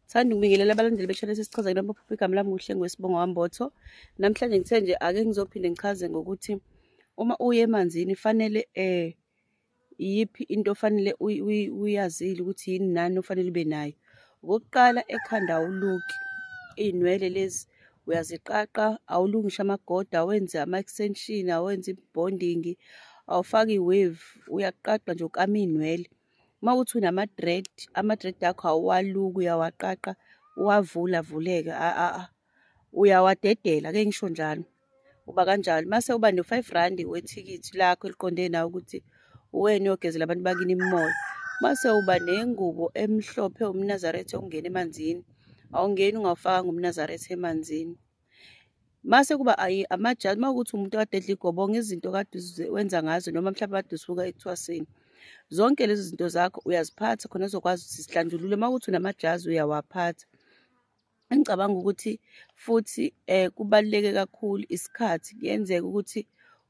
Sithanda ukubingelela abalandeli be-Channel Sesichaza Kulapho Phupha igama lami kuhle ngwesibongo wambotho. Namhlanje ngithe nje ake ngizophinde ngichaze ngokuthi uma uye emanzini fanele eh iyiphi into ofanele uyi- uyi- uyazile ukuthi yini nani ofanele ube nayo. Okokuqala ekhanda awuluki iy'nwele lezi uyaziqaqa awulungishe amagoda awenze ama-extension awenze i-bonding awufaki i-wave uyaqaqa nje ukama iy'nwele uma uthi unama-dread ama-dread akho awuwaluki uyawaqaqa uwavula avuleke uyawadedela ke ngisho njalo uba kanjalo mase uba no-five randi wethikithi lakho eliqonde nawe ukuthi uwena uyogezela abantu bakini imimoya mase uba nengubo emhlophe umnazaretha ongena emanzini awungeni ungawufakanga umnazaretha emanzini mase kuba amajaji uma ukuthi umuntu kade edla igobonga izinto kade wenza ngazo noma mhlawumbe kade usuka ekuthwaseni zonke lezi zinto zakho uyaziphatha khona uzokwazi ukuthi sihlanjulule uma ukuthi unamajazi uyawaphatha engicabanga ukuthi futhi um kubaluleke kakhulu isikhathi kuyenzeka ukuthi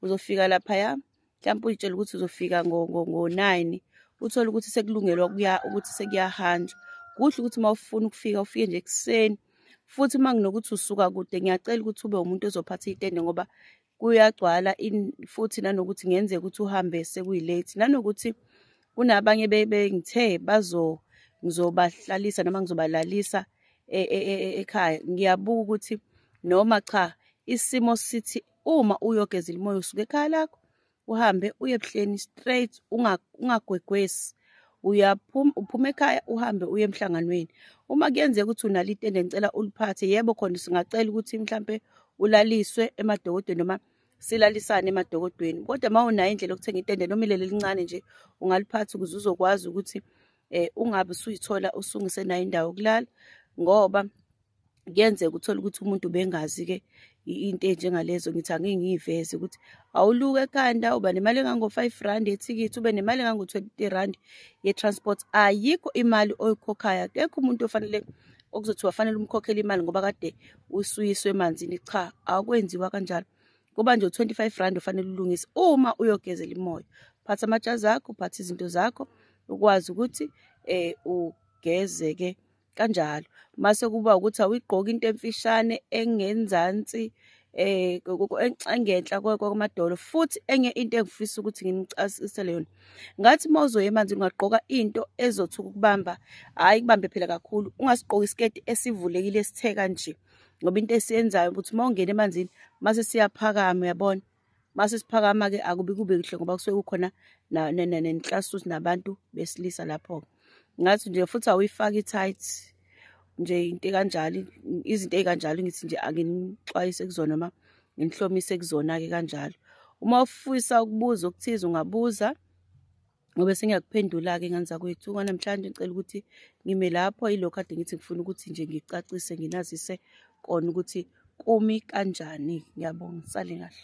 uzofika laphaya mhlawumpe uyitshela ukuthi uzofika ngo-nine uthole ukuthi sekulungelwa ukuthi sekuyahanjwa kuhle ukuthi uma ufuna ukufika ufike nje ekuseni futhi uma nginokuthi usuka kude ngiyacela ukuthi ube umuntu ozophatha itende ngoba kuyagcwala futhi nanokuthi ngenzeka ukuthi uhambe sekuyilate nanokuthi kunabanye bengithe bazo ngizobahlalisa noma ngizobalalisa e, e, e, ekhaya ngiyabuka ukuthi noma cha isimo sithi uma uyogeza ilimoya usuke ekhaya lakho uhambe uye ebuhleni straight ungagwegwesi uyaphuma uphuma ekhaya uhambe uye emhlanganweni uma kuyenzeka ukuthi unalo itende ngicela uliphathe yebo khona singacela ukuthi mhlampe ulaliswe emadokodweni noma silalisane emadokodweni kodwa uma unayo indlela yokuthenga itende noma ilele elincane nje ungaliphatha ukuze uzokwazi ukuthi um ungabe usuyithola usungisenayo indawo yokulala ngoba kuyenzeka uthole ukuthi umuntu bengazi-ke into enjengalezo ngithi angeke ngiyiveze ukuthi awuluke ekhanda uba nemali engango-five rand yethikithi ube nemali engango-twenty rand ye-transport ayikho imali oyikhokhayo akekho umuntu ofanele okuzothi wafanele umkhokhele imali ngoba kade usuyiswe emanzini cha akwenziwa kanjalo kuba nje u-25 rand ofanele ulungise uma uyogezela imoya phatha amajazi akho phatha izinto zakho ukwazi ukuthi um ugeze-ke kanjalo mase kuba ukuthi awuyigqoki into emfishane engenzansi eh engenhla kwamadolo futhi enye into engifisa ukuthi nginichasisele yona ngathi mawuzoya emanzi ungagqoka into ezothuka ukubamba hayi kubambe phela kakhulu ungasigqoki isiketi esivulekile esithe kanje ngoba into esiyenzayo ukuthi mawungena emanzini mase siyaphakama uyabona mase siphakama ke akubi kube kuhle ngoba kusuke kukhona nenhlasuthi nabantu besilisa lapho ngathi nje futhi awuyifaki i-tight nje into ekanjalo izinto ezikanjalo ngithi nje anginixwayise kuzona noma nginihlomise kuzona-ke kanjalo uma ufisa ukubuza okuthize ungabuza ngobe sengiyakuphendula-ke ngane zakwethu kwanamhlanje ngicela ukuthi ngime lapho yilokho kade ngithi ngifuna ukuthi nje ngicacise nginazise kona ukuthi kumi kanjani ngiyabonga sale kahle